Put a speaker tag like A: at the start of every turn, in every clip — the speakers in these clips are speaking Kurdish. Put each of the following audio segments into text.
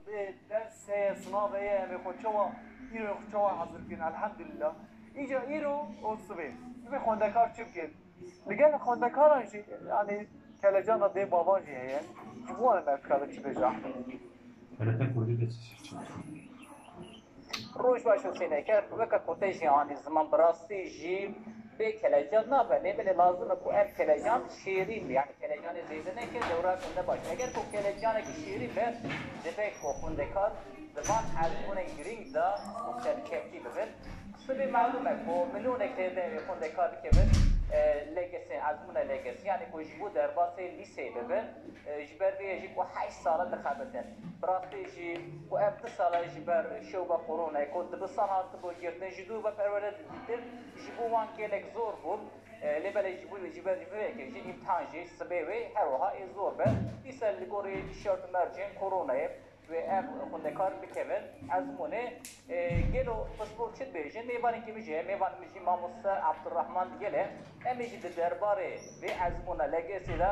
A: Vê dersê sinavê yê em ê xwe çawa îro xwe çawa hezir bikin elhemdulîla. Îca îro û sibê sibê xwendekar çi bikin? Li gel xwendekaran jî yanî kelecana dê bavan jî heye. Ji bo em ev kare çi bêje Ehmed? Xereta
B: kurdî de çi şîr çawa xwendin?
C: Roj baş û sêneker weke koteyê jîhanê ziman bi rastî jî bê kelecan nabe. Lê belê lazim e ku ev kelecan şêrîn be. Yanî kelecanê zêde neke dewra gunde baş be. Eger ku kelecanekî şêrîn be dibe ku xwendekar di van erdhûnên girîng de û serkevtî bibin. Sibê melûm e ku milûnek zêde xwendekar dikevin LGS erdhûna LGS yanî ku ji bo derbasê lîseyê bibe. Ji ber vê ye jî ku heşt sal e dixebitin. Bi rastî jî ku ev du sal e ji ber şewba koronayê ku dibisan hatibû girtin ji dû ve perwerde didîtin, ji bo wan gelek zor bû. Lê belê ji bo ji ber vê yekê jî îmtihan jî sibê wê her wiha ê zor be. Dîsa li gorî şert û mercên koronayê wê ev xwendekar bikevin ezmûnê. Gelo piştgûr çi dibêjin? Mêvanekî min jî heye, mêvanê min jî mamoste Abdurrahman Gel e. Em ê jî di derbarê vê ezmûna LGS'ê de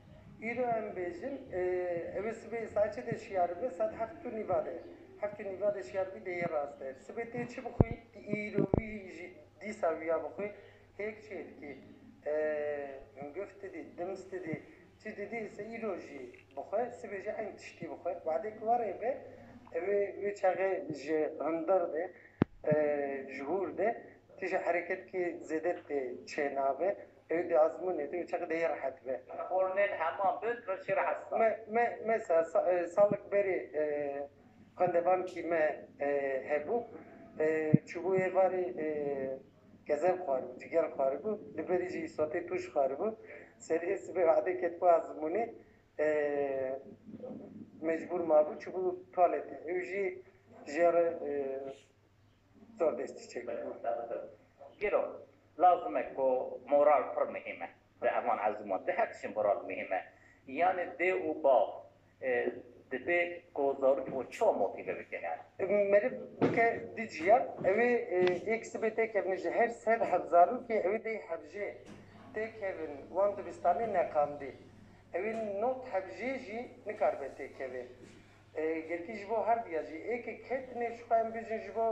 C: Îro em
D: bêjin ew ê sibê saçê de şiyar bibe saet heft û nîva de. Heft û nîva de şiyar bî de yê rast e. Sibê tê çi bixwî? Tê îro wî jî dîsa wî ya bixwî. Hêk çê dikî? Hingif didî, dims didî, çi didî se îro jî bixwe, sibê jî eyn tiştî bixwe. Badê ku warê be ew ê wê çaxê ji hundir de, ji hûr de tije hereketke zêde tê çênabe. Ew dê azmûnê te û çaxê de yê rehet be. Xornên hema
C: bin re çê rehet sta. Me me mesa
D: salek berê xwendevankî me hebû çûbû êvarê gezev xwaribû, cigel xwaribû li berî jî îsotê tûj xwaribû. Seriyê sibê vadê ketibû azmûnê mecbûr mabû çûbû tualetê. Ew jî ji ya re. zor destî çêkiribû.
C: Gelo lazim e ku moral pir muhîm e di heman eziman de her tiştê moral muhîm e. Yanê dê û bav dibê ku zarok xwe çawa motîve bikin yani. Meriv
D: bike du cîya ew ê yek sibê têkevin ji her sed heft zarokê ew ê deh hevjê têkevin wan dibistanê neqandî. Ew ê nod hevjê jî nikaribe têkeve. Girtî ji bo her diya jî ê ke kê tunê ji xwe em bijîn ji bo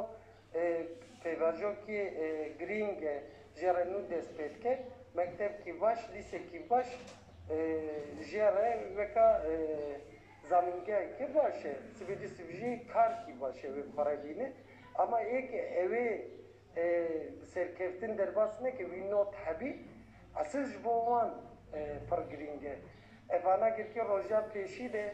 D: pêvajoki girîng e jê re nû dest pê dike. Mektebkî baş, lîsekî baş jê re weka zanîngehekî baş e. Sibê dî sib jî karkî baş e wê xwe re bîne. Ama ê ke ewê bi serkeftin derbas neke wî not hebî esil ji bo wan pir girîng e. Evana girkî rojan pêşî de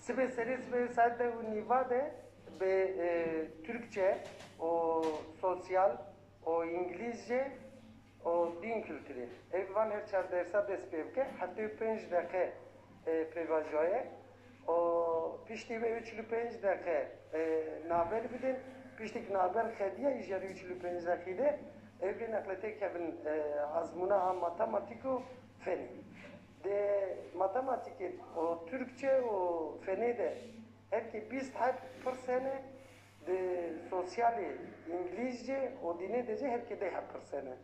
C: Sibê serê sibê
D: saet deh û nîva de bi Tirkçe û sosyal û îngilîzce û dîn kulturê ev van her çar dersa dest pê bike. Heftê û pênc deqe pêvajoya ye û piştî wê û çil û pênc deqe navber bidin. Piştî ku navber xediya îjarê û çil û pênc deqî de ew rê neqletê kevin ezmûna a matematîk û fenê. Di matematîkê û tirkçe û fenê de herkê bîst heb pirs hene, di sosyalê, îngilîzce û dînê de jî herkê deh heb pirs hene.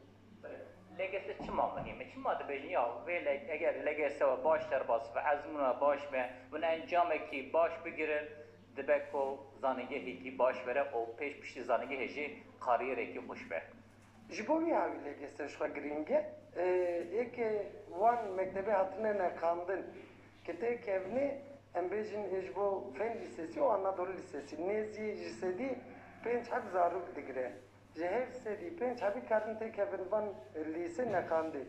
D: Legese
C: çima muhîm e? Çima dibêjin ya vê lege eger legese we baş derbas be, ezmûna we baş be û encamekî baş bigire dibe ku zanîngehekî baş were û pêş piştî zanîngehê jî karîyerekî xweş be. Ji bo vî havî
D: lêgeste ji xwe girîng e, ê ke wan mektebê hatine neqandin ke tê kevnê, em bêjin ê ji bo Fen Lîsesî û Anadolu Lîsesî nêzî ji sedî pênc heb zarok digire. Ji her sedî pênc hebî karin tê kevin van lîsê neqandê.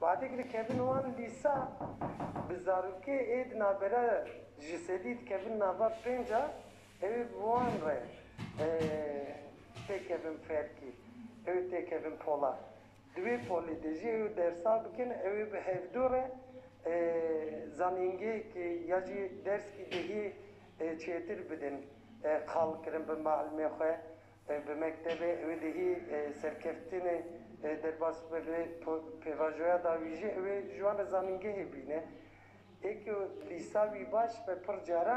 D: Badê girê kevin wan lîsa bi zarokê ê di navbera ji sedî dikevin nava pênc a Ew bi wan re tê kevin Ferkî, ew tê kevin Polat. Di wê polê de jî ew dersa bikin, ew ê bi hevdu re zanîngehekê ya jî derskî dehî çêtir bidin. Qal kirin bi mielimê xwe bi mektebê, ew ê dehî serkeftinê derbas bibe lê pêvajoya dawî jî ew ê ji wan re zanîngehê bîne. Ê ku lîsa wî baş be pircare.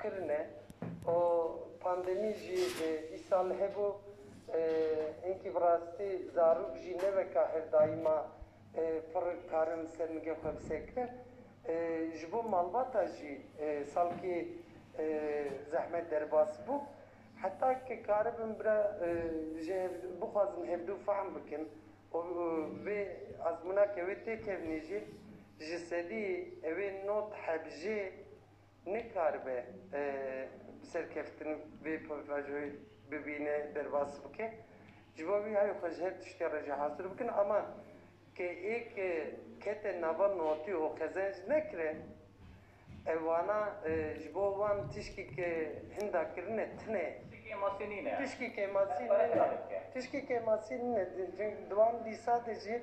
D: kirine û pandemî jî dîsa li hebû hinkî bi rastî zarok jî ne weka her daîma pir karin li ser nigê xwe bisekin ji bo malbata jî salkê zehmet derbas bû heta ke karibin bira ji bixwazin hevdu fehm bikin û vê azmûna ke wê têkevnî jî ji sedî ewê nod hebjê Nikaribe bi serkeftin vê pavajoyê bibîne, derbas bike. Ji bo vî hayê xwe ji her tiştê re jî hazir bikin ama ke ê ke kete nava notî û qezenc nekire ev wana ji bo wan tişkî ke hinda kirine tine. Tişkî kemasî nîne. Tişkî kemasî nîne. Tişkî kemasî nîne. Di wan dîsa de jî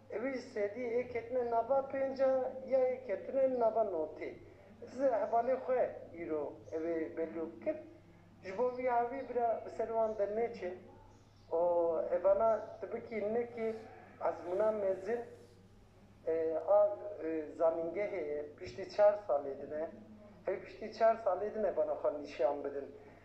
D: Wî ji sedî yê ketine nava pênc a ya yê ketine nava notê. Diz ê hevalê xwe îro ev ê bello bikin. Ji bo vî avî bira bi ser wan dernêçe û ev ana tibikî nekê ezmûna mezin a zanîngehê ye. Piştî çar salê din e. Ew piştî çar salê din ev ana xwe nîşan bidin.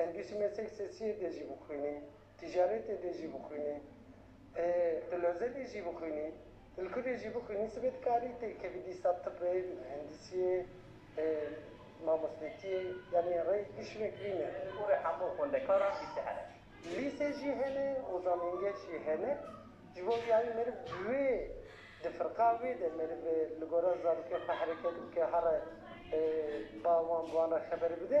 D: Em bîsmesek sesiyê de jî bixwînî, tîcaretê de jî bixwînî, dilozê de jî bixwînî, dilku de jî bixwînî sibê dikarî têkevî dîsa tibê, mihendisiyê, mamostetiyê yanî rê giş vekirî ne. Ji bo vê hemû
C: xwendekaran lîse hene. Lîse jî
D: hene û zanîngeş jî hene. Ji bo vê yayî meriv ji wê di firqa wê de meriv li gora zarokên xwe hereket bike herre ba wan bi wan re xeber bide.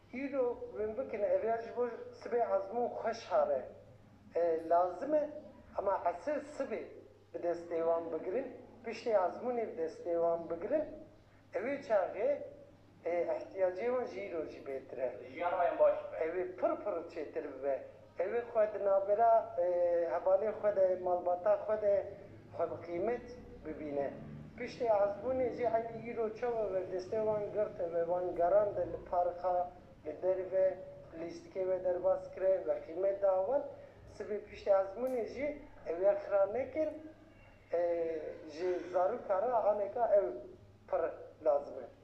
D: Îro min bikin ev ya ji bo sibê ezmûn xwe şare lazim e hema esir sibê bi destê wan bigirin piştê ezmûnê bi destê wan bigirin ew ê çaxê îhtiyacê wan ji îro jî bêtir e
C: ew ê pir pir
D: çêtir bibe Ew ê xwe di navbera hevalên xwe de, malbata xwe de xwe bi qîmet bibîne. Piştê azbûnê jî eynî îro çawa ve destê wan girte ve, wan gerande li parixa, li derve, lîstikê ve derbas kire, ve qîmet da wan. Sibê piştê azbûnê jî ew ya xira nekin. Ji zaroka re aneka ew pir lazim e.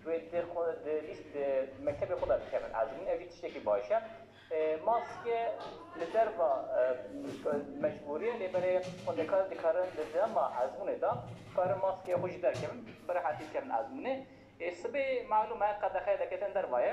C: Ji wê di xwe di lîst di mektebê xwe de dikevin ez min ev jî tiştekî baş e. Maske li derva mecbûrî ye lê belê xwendekar dikarin di dema ezmûnê de dikarin maskeyê xwe jî derkevin bi rehetî bikevin ezmûnê. Sibê malûm e qedexeya derketina derva ye.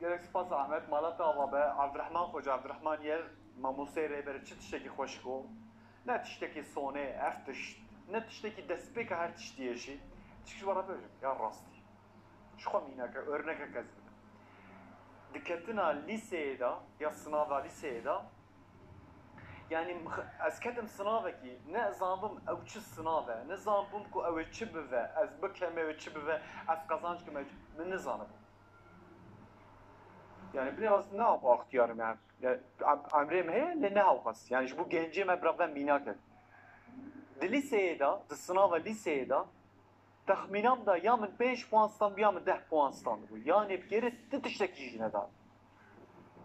A: Gelek spas Ahmet, mala te ava be, Evdirehman Xoca Evdirehman yer, Mamosteyê Rêberê çi tiştekî xweşik o. Ne tiştekî sonê ev tişt, ne tiştekî destpêka her tiştî ye jî. Tişkî ji we re bibêjim, ya rastî. Ji xwe mîneke, örnekek ez bidim. Di ketina lîseyê de, ya sinava lîseyê de, yanî ez ketim sinavekî, ne zanibûm ew çi sinav e, ne zanibûm ku ew ê çi bive, ez bikeme wê çi bive, ez qezanc kime, min nizanibû. Yani bine as ne ap axtiyar me. Emrê me heye lê ne hewxas. Yani ji bo gencê me biraven mînak e. Di lîseyê de, di sınava lîseyê de texmînam da ya min pênc puan standbû ya min deh puan standbû. Yanê bi gerê ti tiştekî jî neda.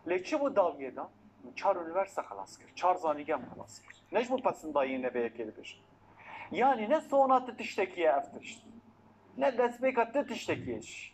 A: Lê çi bû dawiyê de? Min çar unîverste xelas kir. Çar zanîgem xelas kir. Ne ji bo pesindayî ne vê yekê dibêjim. Yanê ne sona ti tiştekî ye ev tişt. Ne destpêka ti tiştekî ye jî.